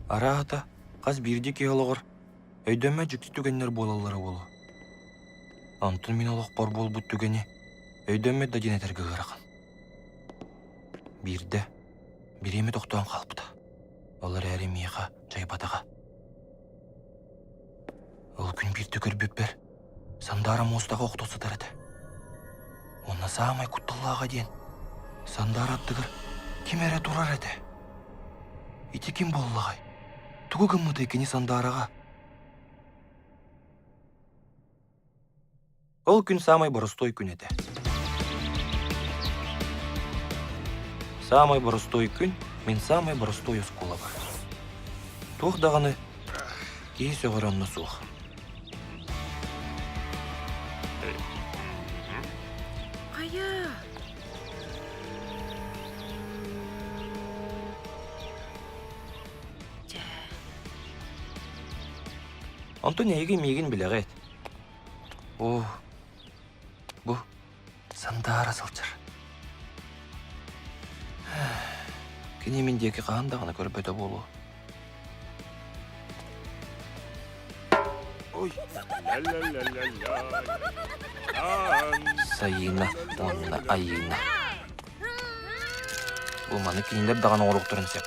Арааһата, хас биирдии киһи олоҕор өйдөмө дьикти түгэннэр буолаллара буолуо. Онтун мин олохпор буолбут түгэни өйдөммөт да диэн этэргэ ыарахан. Биирдэ бириэмэ тохтоон хаалбыта. Ол эрээри миэхэ дьайбатаҕа. Ол күн биирдэ көрбүппэр Сандаара муостаҕа охто сытар этэ. Уонна саамай кутталлааҕа диэн, Сандаара аттыгар ким эрэ турар этэ. Ити ким буоллаҕай? Тугу гыммытай кини Сандаараҕа? Ол күн саамай боростуой күн этэ. Саамай боростуой күн мин саамай боростуой оскуолабар. Туох даҕаны киһи сөҕөр онно суох. Айа. Дьэ. Онтун эһиги миигин билэҕит. Оо, бу сандаара сылдьар. Кини мин диэки хаһан даҕаны көрбөтө буолуо. Ой. Сайыына уонна Айыына. Бу маны кинилэр даҕаны оҥоруохтарын сөп.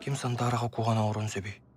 Ким Сандараҕа куһан оҥорон сөбүй?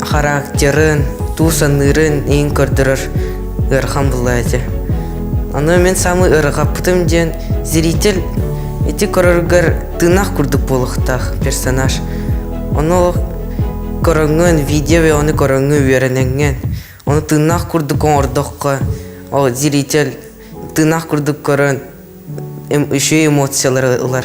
характерын, туу саныырын иҥ көрдөрөр ыарахан буолла этэ. Аны мин самый ыарахаппытым диэн зритель ити көрөргөр тыынах курдук буолуохтаах персонаж. Ону көрөҥҥүн, видео оны көрөҥҥү үөрэнэҥҥин. Оны тыынах курдук оҥордоххо, ол зритель тыынах курдук көрөн, үчүгэй эмоциялары ылар.